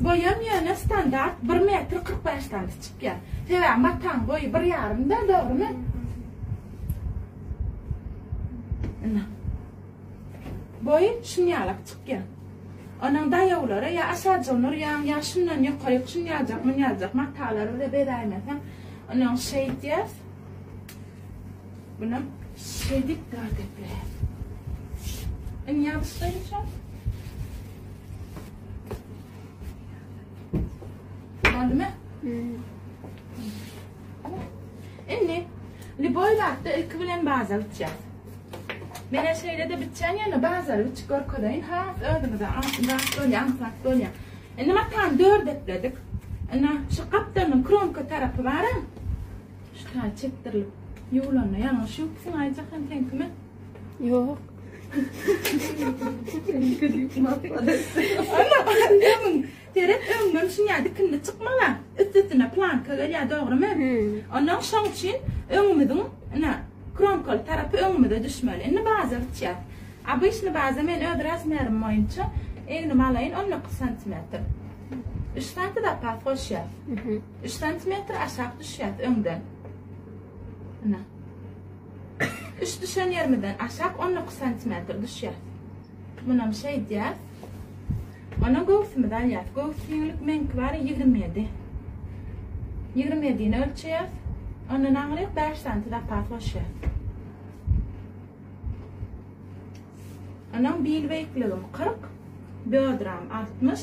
Boýam ýöne standart bir metr kyrk bäş sany çykýar. Sebäbi mataň boýy bir ýarymda, dogrymy? Ina. Boýy şunýalak çykýar. Onuň daýawlary ýa aşajygyny urýaň, ýa şundan ýokaryk şunýajak, munýajak matalary bize beräýmeseň, onuň şeýtýäs. Bunam şeýdip dar depe. Indi ýabyşlaýynça. Boldumy? Indi liboý zatda ilki bilen baza bitýär. Mene şeýle de bitýän ýöne bazary biçip görkezeýin. Ha, özüňize aňsat bolýar, aňsat bolýar. Indi matany dört epledik. Indi şu gapdanyň kromka tarapy bar-a. Şikaýat çekdirilip ýuwlanda ýalňyş ýok diýseň Aýjahan sen kime? Ýok. Seret öňden şuňa dikindi çykmaga. Üstüne planka gelýär dogrymy? Ondan şoň üçin öňümiziň ine kromkaly tarapy öňümize düşmeli. Indi baza biçýär. Обычно baza men öz razmerim boýunça egnimi alaýyn 19 santimetr. 3 santimetr zapas goşýar. Üç santimetr aşak düşýäs öňden. Ine. Üç düşen yerimizden aşak on dokuz santimetr düşýäs. Munam şeýdýäs. Ona göwsümizi alýas. Göwüs giňlik meňki bar ýigrimi ýedi. Ýigrimi ýedini ölçeýäs. Ondan aňryk bäş santi zapas goşýas. Onuň bil beýikligim kyrk, bödram altmyş.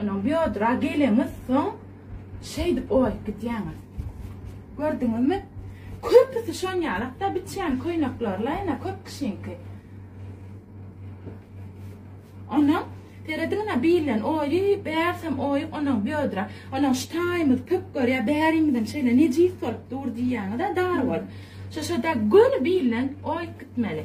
Onuň biodra geleňiz soň şeýdip oýup gidýäňiz. Gördüňizmi? Köpüsi şonýalykda biçýän köýneklerle ene köp kişiňki. Onuň Serediňine bilen oýy, bärsem oýy onuň biodra. Onuň ştaýymyz pöp görýä, bärimiziň şeýle nejis bolup dur diýýäňiz-ä dar bol. Şoşada göni bilen oýup gitmeli.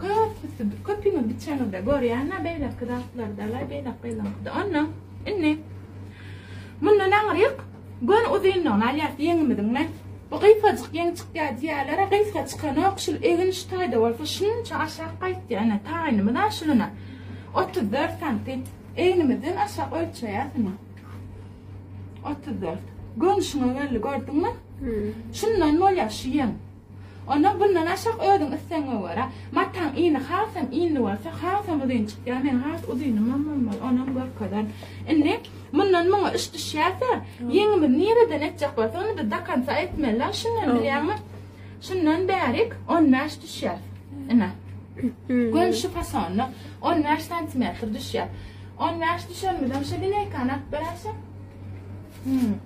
Köpüsi, köpüňiz biçeňizde görýän-ä beýleki zatlardalar, beýleki gyzyňkyda. Onda indi mundan aňryk gön uzynlygyny alýas ýeňimiziň men. Bu gysgajyk ýeň çykýar diýýärler-ä, gysga çykanok, şul egin şu taýda bolsa şunça aşak gaýtýar. Ine, taýynymyz-a şuluna. Otuz dört santim. Egnimizden aşak ölçeýäs indi. Otuz dört. Gönüşiňe geldi, gördüňmi? Şundan bolýar şu ýeň. Onda bundan aşak özüň islegiňe görä. Mataň ini hasam inli bolsa, hasam uzyn çykýar. Meň has uzynymam bolmaly, onam görkezerin. Indi mundan muňa iş düşýärse, ýeňimiz nireden etjek bolsa, ony-da do konca etmeli-la. Şundan bilýäňmi? Şundan bärik on bäş düşýär. Ine. Göni şu fasonda on bäş santimetr düşýär. On bäş düşenimizem şu lineýkany alyp beräýseň.